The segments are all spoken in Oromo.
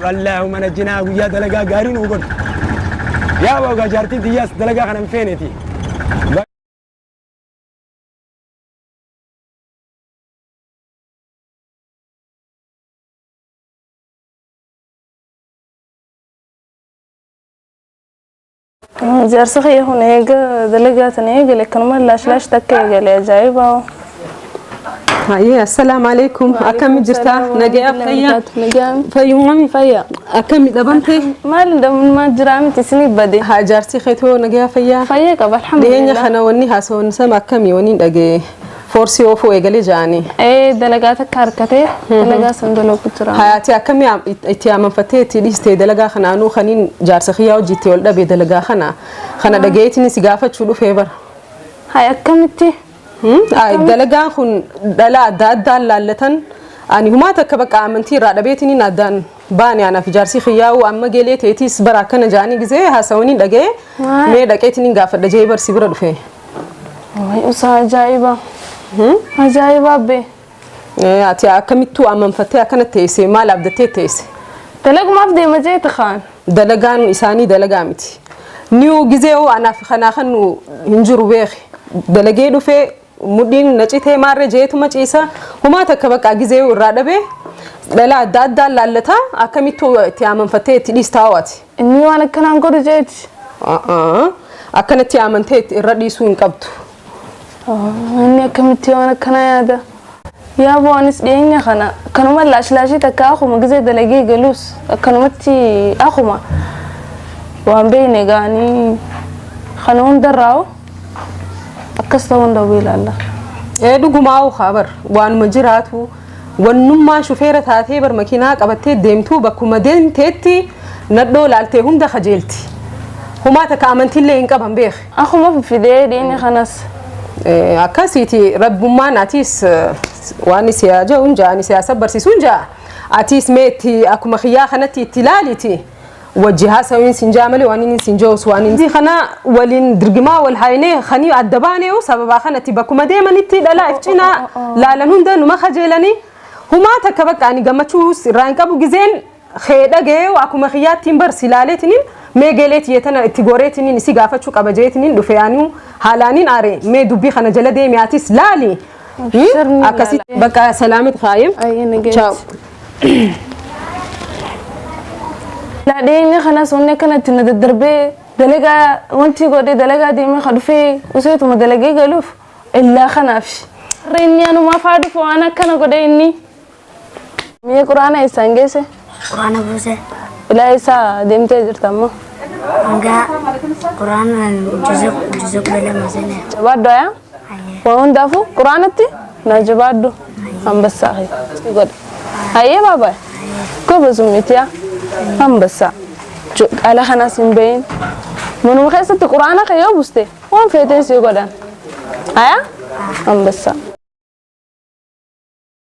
Wallaahi mana jinaa guyyaa dalagaa gaarii nuu godhu. Yaa boogaa jaartiin tiyyaas dalagaa kana hin feeneeti. Jaarsa kiyya kun eega dalagaa tana eegale akkanuma laash laash takka eegale ajaa'ibaa. Hayyee assalaamu alaikum akkami jirtaa nagayaa fayyaa Nagaan. fayyumami Fayyaa. akkami dhabamte Maal dhabummaa jiraa miti isinii bade. haa jaarsi keetoo nagayaa fayyaa Fayyaa qaba dhiyeenya alhamdulillah. kana wanni haasawan sama akkami waniin dhaga'e Foorsii oofuu eegale ja'anii. Ee dalagaa takka harkatee dalagaa san dalagu jira. Hayaatii akkamii am- it- itti amanfattee itti dhiiste dalagaa kana anuu kaniin jaarsa kiyyaa hojii itti ol dhabe dalagaa kana kana dhagayeetiin si gaafachuu dhufee bara. Hay akkamitti? Hmm? Ay, Dalagaan kun dhala adda addaan laallatan ani humaa takka bakka amantii irraa dhabeetiin addaan baane anaaf jaarsii kiyyaa'uu amma geelee teetiis bara akkana ja'anii gisee haasawanii dhaga'ee Waay. mee dhaqeetiin hin gaafadha ja'ee barsi bira dhufe. Waay usaa ajaa'iba. Ajaa'iba abbee. Eh, Ati akkamittuu ammanfattee akkana teesse maal abdattee teesse Dalagumaaf deema jeeta kaan. dalagaan isaanii dalagaa miti. Niyu gisee hoo anaaf kanaa kan nu hin jiru beeki dalagee dhufee mudhiin na citee maarree jeetuma ciisa humaa takka baqqaa gizee irraa dhabee dhalaa adda addaan laallataa akkamittuu itti amanfattee itti dhiistaa ho'ati. Inni waan akkanaan godhu jeeti. Akkanatti amantee irra dhiisuu hin qabdu. Inni akkamitti waan akkanaa yaada? Yaa boo anis dhiyeenya kana kanuma laashlaashii takka akkuma gizee dalagee galus akkanumatti akkuma waan beeyne gaanii kana hundarraa akkas ta'uu hin dhabu ilaalla. Ee dhugumaa okaa bar waanuma jiraatu wannummaan shufeera taatee bar makiinaa qabattee deemtuu bakkuma deemteetti nadhoo laaltee hunda kajeelti. Humaa takka amantiillee hin qaban beek. Akkuma fidee dhiini kanas. Eh, Akkasiiti rabbummaan atiis eh, waan siyaa ja'uun ja'ani siyaa sabbarsiisuun ja'a. Atiis mee itti akkuma kiyyaa kanatti itti ilaaliiti. wajji haasawin sin jaa malee waan inni sin jaus waan inni kana waliin dirgimaa wal haynee kanii adda baaneeyu sababaa kanatti bakkuma deemanitti dhalaa if cinaa laalan hunda numa kajeelanii humaa takka bakka ani gammachuus irraa hin qabu gizeen kee dhagayeeyu akkuma kiyyaattiin bar si laaleetiniin mee geleet yeetana itti goreetiniin isi gaafachuu qaba jeetiniin dhufe anuu haalaaniin aare mee dubbii kana jala deemi atis laali Abshir ni akkasi ilaala. bakka salaamit kaayim Ayyee na geessi. Ciao. Laa dhiyeenya kanas wanni akkanatti na daddarbee dalagaa wanti godhe dalagaa deemee ka dhufee useetuma dalagee galuuf illaa kanaaf. Har'a inni anumaaf haa dhufu waan akkana godhe inni. Mee quraana eessaan geesse? Quraana buuse. Ilaa eessaa deemtee jirta ammoo? Hanga quraana juzuu juzuu kudha lama sene. Jabaaddu ayaa? Waa hundaafuu quraanatti naa jabaaddu hambassaa kee si godha. Hayyee baabaa gobazummiiti yaa hambassaa. Jo- Ala kanas hin bahin. Manuma keessatti quraana kee yoo buste waan feeteen si godhan. Ayaa? Hambassaa.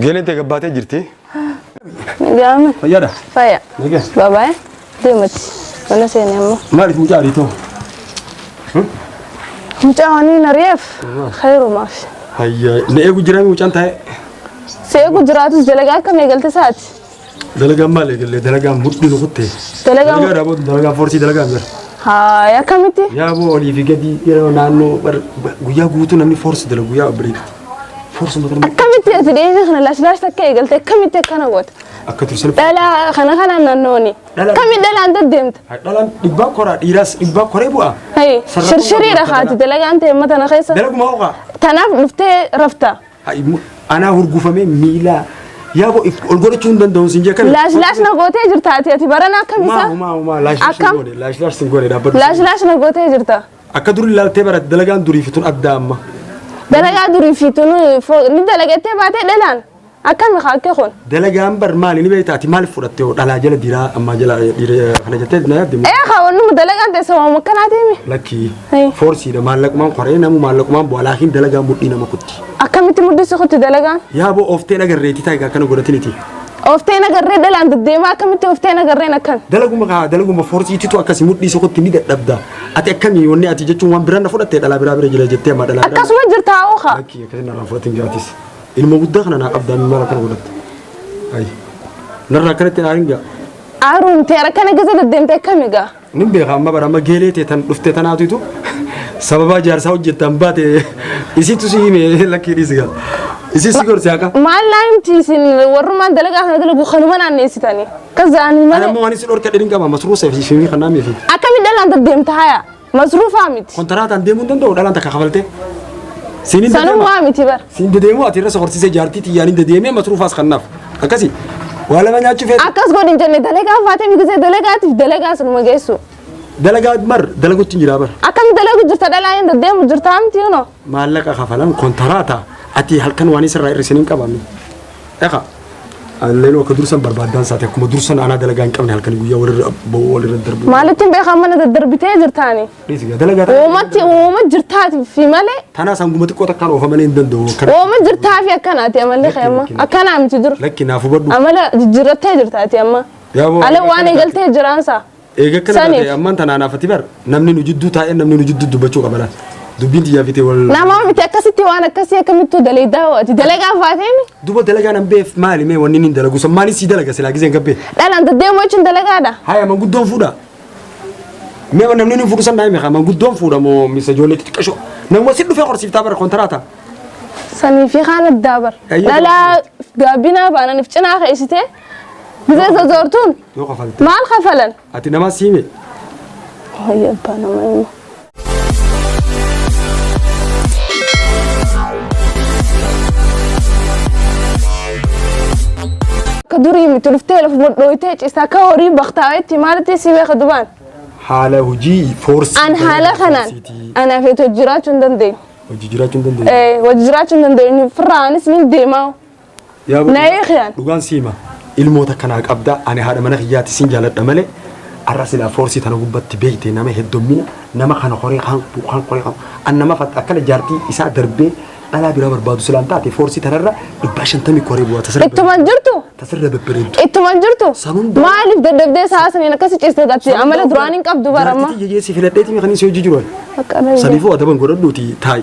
Geeleen tee gabbaatee jirti. Jaama. Fayyaadha. Faya. Nagaa. Babaay. Deemati. Mana seeni amma. Maaliif mucaa ariitoo? Mucaa waan hin ari'eef. Khayrumaaf. Hayyaa. Na eegu jiraa mucaan taa'e. Si eegu jiraatus dalagaa akkam eegalte isaati. Dalagaan maal eegalle dalagaan mudhii nu kutte. Dalagaan- Dalagaa dhaabootu dalagaan foorsii dalagaan jira. Haay akkamitti? Yaa boo olii fi gadi yeroo naannoo bar- bar- guyyaa guutuu namni foorsi dalagu guyyaa bariiti. Foorsi mata nama Akkamitti ati dhiyeenya kana laashilaash takka eegalte akkamitti akkana goota? akka tursan. Dhalaa kana kanaan naannooni. Dhalaa- Akkamitti dhalaan deddeemta? Dhalaan dhibbaa koraa dhiiraas dhibbaa koree bu'aa. Hayi Sarara- shirshiriidha haati dalagaan ta'e mata na keessa. Dalaguma hooqaa. Tanaaf dhuftee rafta. Anaa hurgufamee miilaa yaa bo ol godhachuu hin danda'u sin jeekan. Laash laash na gootee jirta ati ati barana akkam isaa? Maa maa maa laash laash hin goone laash laash sin goone dhaabbadhu. Laash laash na gootee jirta. Akka duri ilaaltee bara dalagaan durii fi tun adda amma. Dalagaa durii fi tun ni dalagattee baatee dhalaan akkami haa akka kun. Dalagaan bar maali ni beektaa ati maaliif fudhatte hoo dhalaa jala dhiiraa ammaa jala dhiira kana jettee na yaadde moo? Ee haa wannuma dalagaan teessa waan akkanaatii himi. Lakkii Hey. foorsiidha maallaqumaan koree namu maallaqumaan bu'aa laakiin dalagaan mudhii nama kutti. Akkamitti muddisi kutti dalagaan? Yaa boo ooftee dhagarreetii taayigaa akkana godhatiniti. Oofteen agarree dhalaan deddeemaa akkamitti oofteen agarreen akkan? Dalaguma kaa dalaguma foorsiititu akkasi mudhii sokotti ni dadhabda. Ati akkamii wanni ati jechuun waan biraa na fudhatte dhalaa biraa bira jira jettee amma dhalaa biraa. Akkasuma jirtaa hoo haa? Lakkii akkasii narraa fudhatin jiraatis. Ilma guddaa kana naa qabdaa mimmaan akkana godhatte. Ayi. Narraa akkanatti naa hin ga'a. Aaruun tee rakkana keessa deddeemte akkami gaa? Nin beeka amma bara amma geelee tee tan dhufte tanaatutu sababaa jaarsaa hojjettan baate isitu si hime lakkii dhiisi gaa. Isin si gorsi haqa. Maal naa himti isin warrumaan dalagaa kana dalagu kanuma naanneessitanii. Kan za'anii Ani malee. ammoo waan isin dhorka dhirin qaba masruusa fi shimii kan naamee fi. Akkami dhalaan deddeemta haya? Masruufaa miti. Kontaraataan deemuu hin danda'u dhalaan takka kafaltee. Siin hin dedeema. Sanummaa miti bar. Siin dedeemuu ati irra sokorsiisee jaartii tiyyaan hin dedeemee masruufaas kannaaf. Akkasi. Waa lama nyaachuu feetu. Akkas godhi hin jenne dalagaa faatee migisee dalagaatiif dalagaa sunuma geessu. Dalagaa mar dalagutti hin jiraa bar. Akkami dalagu jirta dhalaa hin deemu jirta miti yuno. maallaqa kafalan kontaraata ati halkan waan isarraa hir'isin hin qabame. Dhaqa. Leenoo akka dursan barbaaddaan isaati akkuma dursan anaa dalagaa hin qabne halkan guyyaa walirra ba'uu walirra darbu. Maalitti hin beekan mana daddarbitee jirtaani? Dhiisi gaa dalagaa ta'a. Uumatti uuma jirtaati fi malee Tanaas hanguma xiqqoo takkaan oofa malee hin danda'u. Akkana- uuma jirtaa fi akkanaati amalli kee amma. Akkanaa miti dur. Lakki naaf hubadhu. Amala jijjiirrattee jirtaati amma. Yaa boo- Ale waan eegaltee jiraansaa. Eega akkana Saniif. taate ammaan tanaan hafati bar namni nu jidduu taa'ee namni nu jidduu dubbachuu qaba laata. Dubbiin xiyyaa fitee wal. Namaa miti akkasitti waan akkasii akkamittuu daleedaa ho'ati. Dalagaa faateen Duba dalagaa nan beef maali mee wanni inni dalagu san maali sii dalaga silaa giseen gabbee. dhalaan deddeemuu jechuun dalagaadha. Haya manguddoon fuudha. Mee namni inni fuudhu san daa'ime haa manguddoon fuudha moo misa ijoollee xixiqqashoo. Namuma si dhufee horsiiftaa bara kontaraata. Sanii fi kaan addaa bar. Eeyyee. Dhalaa gaabinaa baananiif cinaa keessitee Miseensa zoortuun Yoo kafalte. maal kafalan? Ati nama siime. Wayya abbaa nama hima. Ka durii miti dhuftee lafa modhooytee cisaa ka horii baktaawetti maalitti si beeka dubaan? Haala hojii foorsii. An haala kanaan anaaf eetu jiraachuu hin dandeenye. Hojii jiraachuu hin dandeenye. Eh, Wajji jiraachuu hin dandeenye. Firraa anis ni deemaa. Yaa Na Bu'uura, eegan. Dhugaan si hima. Ilmoota kanaa qabda ani haadha mana kiyyaati sin jaaladha malee har'a silaa foorsii tana gubbatti beeyte nama heddommina nama kana koree kan kan koree kan an nama fat akkana jaartii isaa darbee dhalaa biraa barbaadu silaan taate foorsii tanarra dhibbaa shantamii koree bu'aa tasirra Ittuma hin jirtu. tasirra bebbereeddu. Ittuma hin jirtu. San hunda- Maaliif dadhabdee sa'a saniin akkasi ciiste gatti amala duraan hin qabdu baramma. Jaartii tiyya geessi filadheetii kan inni si hojii jiru. Akka dhabe. Saniifuu adaban godhadhuuti taa'i.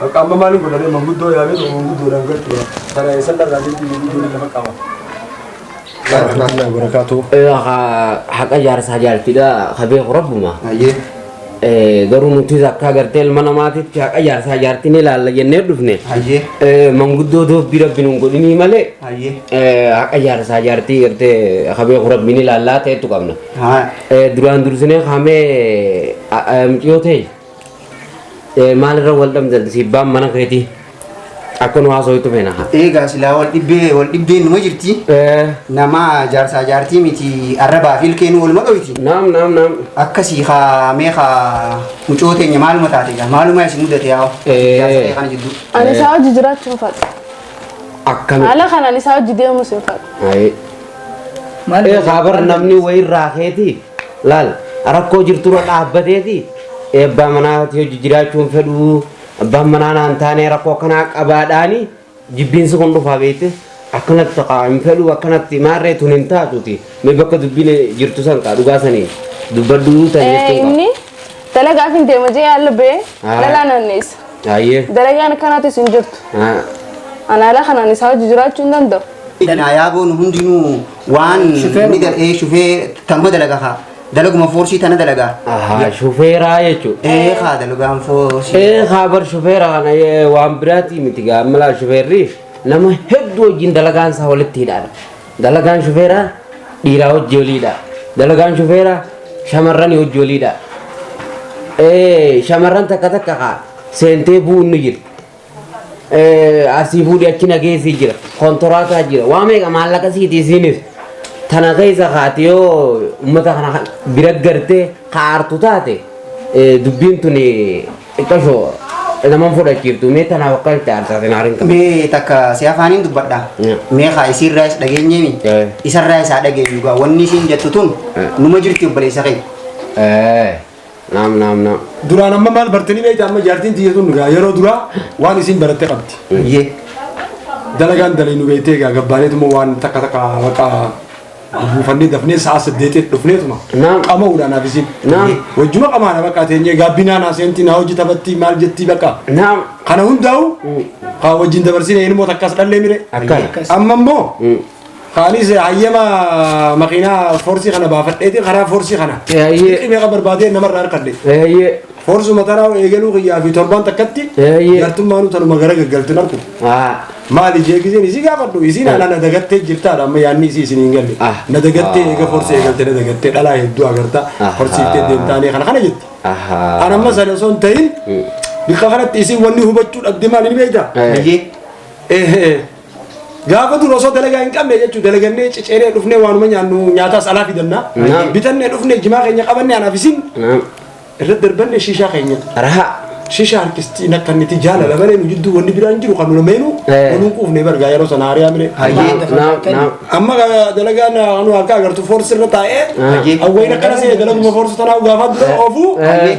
Bakka amma maaliin godhame manguddoo yaamee tokko manguddoodhaan galchuudha. Kana eessan dharraa jechuun manguddoon lafa qaba. Warahmatullahi wabarakatuh. haqa jaarsaa jaaltidha ka beeku rabbuma Ayyee. Eh, garuu nuti akka agartee ilma namaatitti haqa jaarsaa jaartii ni ilaalla jennee dhufne Ayyee. Eh, manguddoo doobbii rabbi nun godhinii malee Ayyee. eh, haqa jaarsaa jaartii gartee ka beeku rabbi ni ilaallaa ta'etu qabna Haa. Eh, duraan dursinee kaamee muciyyoo ta'e Eh, maalirra wal dhabdan sibbaan mana keetii akka nu haasawutti feena haa. Eegaa silaa wal dhibbee wal dhibbeen numa jirti. Eh, Nama jaarsaa jaartii miti arrabaa fi ilkeen waluma dhoyti. naam naam naam. Akkasii haa mee haa mucoo teenya maaluma taate egaa maaluma isin mudate yaa Eh. jaarsa kee kana jidduu. Ani isaa hojii jiraachuu hin fadhu. Akkami. Haala kanaan isaa hojii deemus hin fadhu. Ayi. Maal Eh, haa bar namni wayirraa keetii. Laal, rakkoo jirturra dhaabbateeti eebbaa manaati hojii jiraachuu hin fedhu, abbaan manaa naan taane rakkoo akkanaa qabaadhaani jibbiinsi kun dhufaa beekte akkanatti taqa hin fedhu akkanatti maarree tun hin taatuti mee bakka dubbiin jirtu san kaa dhugaa saniin dubbadhu tan Ee, jechuun qaba. inni dalagaaf hin deema jee yaalla bee Haa. lalaa naanneessa. Baay'ee. Dalagaan akkanaatis hin jirtu. Haa. Anaalaa kanaan isaa hojii jiraachuu hin danda'u. Danaa yaaboo nu hundinuu Waan Shufeeruma. ni dal- ee, shufee tanuma dalaga kaa. Dalaguma foorsii tana dalaga. Ahaa, shufeeraa jechuudha. Ee kaa dalagaan foorsii. Ee kaabar shufeera kana ee, waan biraatii miti gaa malaa shufeerri nama hedduu wajjin dalagaan isaa walitti hidhaadha. Dalagaan shufeeraa dhiiraa hojii waliidha. Dalagaan shufeeraa shamarran hojii waliidha. Ee shamarran takka takka kaa seentee bu'uun ni jirti. asii fuudhii achi nageessii jira kontoraataa jira waa meeqa maallaqa siiti isiinis tana keessa kaati yoo uummata kana bira gartee kaartu taate dubbiin tun xiqqashoo naman fudhachiiftu mee tanaaf akka itti aarsatin haarin qabu. Mee takka si afaaniin dubbadha. Yeah. Mee haa isiirraa is dhageenyeemi. Yeah. Isarraa isaa dhageenyu gaa wanni isiin jettu tun Yeah. numa jirti obboleessa keenya. Naam naam naam. Duraan amma maal bartanii beektaa amma jaartiin tiyya tun gaa yeroo duraa waan isiin baratte qabdi. Ye. Dalagaan dalii nu beektee gaa gabbaaneetuma waan takka takka baqa buufannee dafnee sa'a saddeetii dhufneetuma. Naam. Qama'uudhaan haaf isiin. Naam. Wajjuma qamaana baqa teenyee gaabbinaan haaseentii naa hojii taphatti maal jettii baqa. Naam. Kana hundaa'u haa wajjin dabarsine ilmoo takkaas dhallee mire. Akkana. Amma immoo Mm. Kaanis hayyama makiinaa foorsii kana baafadheeti karaa foorsii kana. Eeyyee. Xiqqii meeqa barbaadee namarraa harkadhe. Eeyyee. Foorsuma tanaa eegaluu kiyyaa fi torbaan takkatti. Eeyyee. Jartummaanuu tanuma gara gaggaltu narku. Haa. Maali jee giseen isii gaafadhu isiin ana na dagattee jirtaadha amma yaanni isii isin hin galle. Ah. Na dagattee eega foorsii eegalte na dagattee dhalaa hedduu agarta. Ah. Horsiiftee deemtaanii kana kana jetti. Ahaa. Ana amma sana osoo hin ta'in bikka kanatti isiin wanni hubachuu dhabde maal hin beektaa? Eh. Eeyyee. Eh, eh. Gaafa dura osoo dalagaa hin qabne jechuun dalagannee ciceenee dhufnee waanuma nyaannu nyaataas alaa fidanna. Naam. Bitannee dhufnee jimaa keenya qabannee anaaf isin Naam. irratti darbanne shiishaa keenya. Rahaa. Shiishaa harkisti nakka niti jaalala malee nu jidduu wanni biraan jiru kan nu lameenu Eh. waluun quufne bargaa yeroo sana hariyaa mire. Hayyee. Naam. Naam. Amma ga- dalagaan anu akka agartu foorsi irra taa'ee Hayyee. awwayna kana seene dalaguma foorsi tanaa gaafaa dura oofuu. Eh.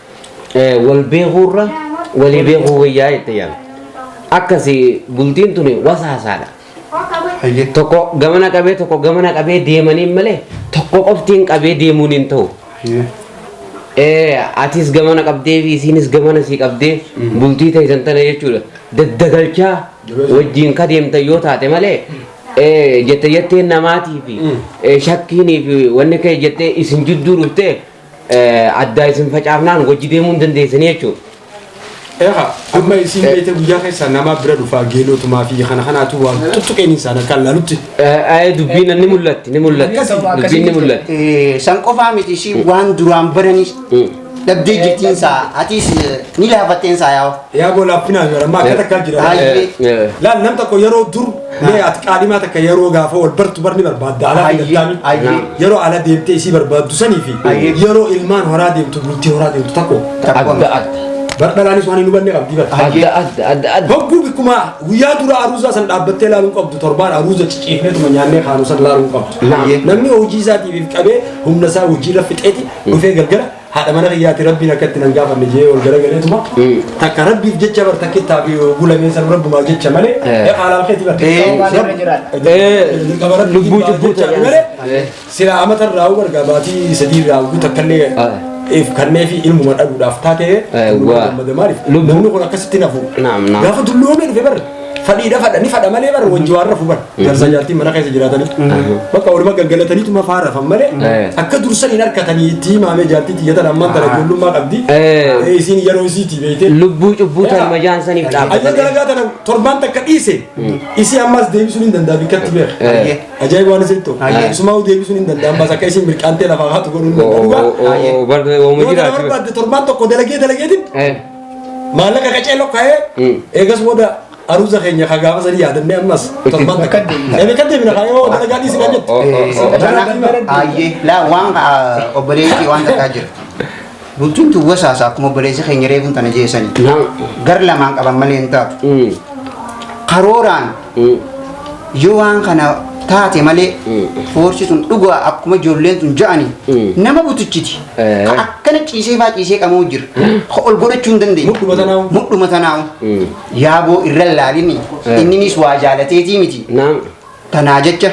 wal beekuurra walii beekuu wayyaa jette yaala. Akkasi bultiin tuni wasaasaadha. Hayyee. Tokko gamana qabee tokko gamana qabee deemaniin malee tokko qoftiin qabee deemuun hin ta'u. Hayyee. Eh, atis gamana qabdee fi isiinis gamana sii qabdee bultii ta'isan tana jechuudha. Daddagalchaa wajjin ka deemtan yoo taate malee eh, jette jettee namaatii fi eh, shakkiinii fi wanni kee jettee isin jidduu dhuftee addaa isin facaafnaan wajji deemuu hin dandeessanii jechuudha. Eha, amma isiin beete guyyaa keessaa nama bira dhufaa geeloo tumaa fi kana kanaatu waan tuttuqeen isaan akka laalutti. Dubbiin ni mul'atti ni mul'atti dubbiin ni mul'atti. San qofaa miti ishii waan duraan baranis dhabdee jirtiin saa atiis ni laafatteen saa yaa'u. Yaa boo laaffinaa yoo amma akka takkaa jira. Laal nam tokko yeroo dur Mee ati qaadimaa takka yeroo gaafa wal bartu barni barbaadda alaa Ayyee, daddaami. ayyee. Yeroo ala deemtee isii barbaaddu sanii fi Ayyee. yeroo ilmaan horaa deemtu bultii horaa deemtu takko. Adda adda. Bardhalaanis waan hin hubanne qabdi bar. Adda adda adda adda. Hogguu bikkuma guyyaa dura aruuzaa san dhaabbattee ilaaluu hin qabdu torbaan aruuza ciciifneetuma nyaannee kaanuu san ilaaluu hin qabdu. Ayyee. Namni hojii isaatiif qabee humna isaa hojiirra fixeeti dhufee galgala haadha mana kiyyaati rabbiin akka itti nan gaafanne jee ol garagaleetuma takka rabbiif jecha bar takka itti hafi gulamee san rabbumaa jecha malee haalaal keeti bar qaba rabbi lubbuu cubbuu ta'e malee sila amata irraa huu bargaa baatii sadii irraa huu takka illee if kannee fi ilmuma dhabuudhaaf taatee maaliif namni kun akkasitti nafu gaafa dulloomee dhufe bar fadhiidha fadha ni fadha malee bara wajji waan rafu bara jarsa jaartiin mana keessa jiraatanii bakka waluma gaggalataniitu mafaa rafan malee Eh. akka dursan hin harkatanii itti himaamee jaartii xiyyatan ammaan tana ijoollummaa qabdi Eh. Eh, isiin yeroo isiitii beeytee lubbuu cubbuu tan majaan saniif Ayya dhaabbatanii galagaa tana torbaan takka dhiise isii ammas deebisuun hin danda'amu akkatti beeka. Eh. Ajaa'iba waan isin ta'u. Ayya. Sumaa deebisuun hin danda'amu ammas akka isin mirqaantee lafaa haatu godhuun hin danda'amu. barda Yoo ooma kana jiraatu barbaadde torbaan tokko dalagee dalageetiin Eh. Maallaqa qacee lokkaa'ee eegas booda aruuza keenya ka gaafa sanii yaadannee ammas torban takka deeme kan deemina kaa yoo dalagaa dhiisi kan jettu. Ayyee laa waan obboleessi waan takkaa jira. Bultuun tun wasaasa akkuma obboleessi keenya reefuun tana jeesanii. Gar lamaan qaban malee hin taatu. Karooraan yoo waan kana taate malee foorsi sun dhugaa akkuma ijoolleen sun ja'ani nama butuchiti Eh. Ka akkana ciisee faa ciisee qamoo jira Ka ol godhachuu hin dandeenye Mudhuma tanaa'u. mudhuma tanaa'u yaaboo irra laalini Eh. inninis waa jaalateetii miti Naam. tanaa jecha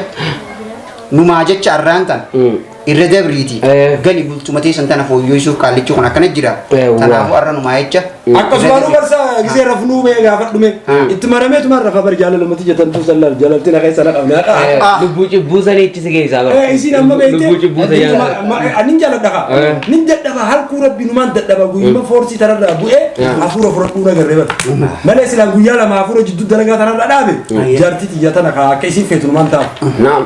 numaa jecha arraan tan irra dabriiti Eh. gali bultuma teessan tana fooyyeessuuf qaallichi kun akkana jira Eh, waa. kanaafuu har'a numaa jecha akkasumaan barsa gisee rafnuu mee gaafa dhume Hmm. itti maramee tumaan rafa bar jaalalamatti jetan tu sallal jalalti na keessa na qabne haqa Ah. Lubbuu cubbuu sanii itti si keessaa bara. Eh, isiin amma beekte Lubbuu cubbuu sa jaalladha. anin jaaladha ka Eh. nin dadhaba halkuu rabbi numaan dadhaba guyyuma foorsii tararraa bu'ee hafuura fudhadhuu na garree bara malee silaa guyyaa lama hafuura jidduu dalagaa tararraa dhaabe jaartii xiyya tana ka akka isiin feetu numaan ta'a Naam.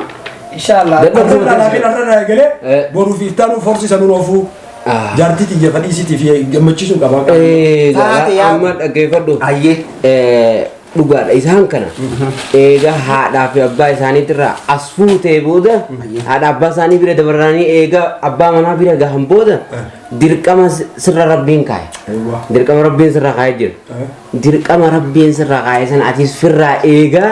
Inshallah. Dadhabbii Arra irraa laafin arra irraa eegalee Eh. boruu fi ittaanuu forsi isa nun oofuu. Ah. Jaartii tiyya fadhii isiti fi gammachiisuun qaba. Eh, Taate jaalaa, yaa- amma dhaggeeffadhu. Ayyee. Eh, dhugaadha isaan kana eega haadhaa fi abbaa isaaniitirraa as fuutee booda haadha abbaa isaanii bira dabaranii eega abbaa manaa bira gahan booda dirqama si- sirra rabbiin kaa'e Eewwa. dirqama rabbiin sirra kaa'e jira Eh. dirqama rabbiin sirra kaa'e sana atis firraa eegaa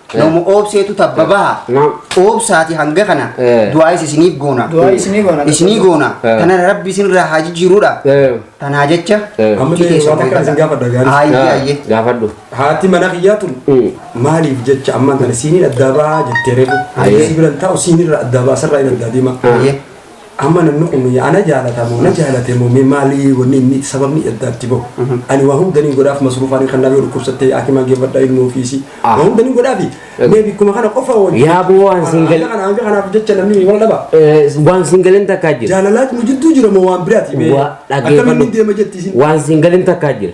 Nama oobseetu tabba baha. Naam. Oobsaati hanga kana Eh. du'aayis isiniif goona. Du'aa isinii goona. Isinii goona. Eh. Kana rabbi isinirraa haa jijjiiruudha. Eh. Tanaa jecha. Eh. Amma itti keessan waan akkan isin gaafadha gaarii. Ayyee ayyee. Gaafadhu. Haati mana kiyyaa tun Mm. maaliif jecha ammaan tana siiniin addaa ba'aa jettee reefu. Ayyee. Sibiran taa'u siinirra addaa ba'aa sarraa hin addaa deema. Ayyee. Amma namni kun ana jaalata moo na jaalate moo mee maalii wanni inni sababni adda itti bahu. Ani waa hunda ni godhaaf masruufaanii kan naaf yoo dhukkubsattee hakimaan geeffadha ilma ofiisi. Ah. Waa hunda ni godhaafi. Eh. Mee bikkuma kana qofa wajjin. Yaa boo waan siin gal- Hanga kana hanga kanaaf jecha namni wal dhaba. Eh, Waan siin galin takkaa jira. Jaalalaatu nu jidduu jira moo waan biraati mee. Waa Akkamiin ni dhaggeeffadhu. deema jetti isin. Waan siin galin takkaa jira.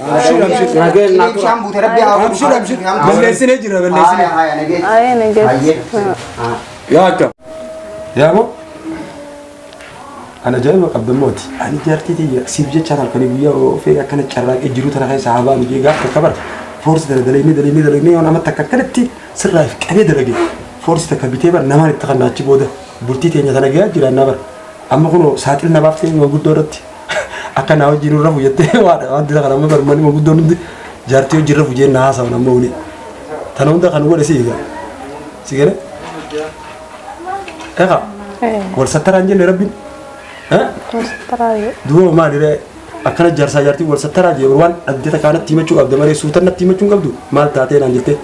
Abshir abshir. Nageen naa tura. Bishaan buute rabbi haa godhu. Abshir abshir. Balleessine jira balleessine. Haaya haaya nageen. Ayee nageessa. Hayyee. Haa. Yaa akka. Yaa moo. Ana jaa'ima qabda mooti. Ani jaartii tiyya siif jecha halkanii guyyaa ofee akkana carraaqee jiru tana keessa haa baanu jee gaafa takka bara. Foorsi tana dalagnee dalagnee dalagnee yoon amma takka akkanatti sirraa if qabee dalage. Foorsi takka bitee bara namaan itti kannaa achi booda bultii teenya tana gahaa jiraannaa bara. Amma kunoo saaxil na baaftee waan guddoo irratti Akka naa wajjin hin rafu jettee waadha wanti kana amma barmani maguddoon hundi jaartii wajjin rafu jeen naa haasawan amma wani. Tana hunda kan godhe si eega. Si gale? Eka wal sattaraan jenne rabbiin. Eh? Australia. Duuba maali ree akkana jaarsaa jaartii wal sattaraa jee waan addata kaanatti himachuu qabda malee suutannatti himachuu hin qabdu maal taatee naan jettee.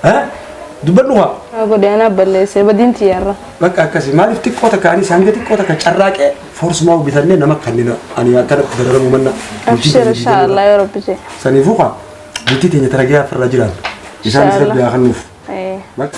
Eh? Dubbadhu haa. Haa godhe anaaf balleessee badiin tiyyarra. Bakka akkasii maaliif xiqqoo takka anis hanga xiqqoo takka carraaqee forsumaa bitannee nama kannina ani akkanatti dararamu manna. Abshir inshaallah yoo rabbi jee. Saniifuu kaa bultii teenya taragee afirra jiraan. Isaanis Inshallah. rabbi haa kennuuf. Eh. Bakka.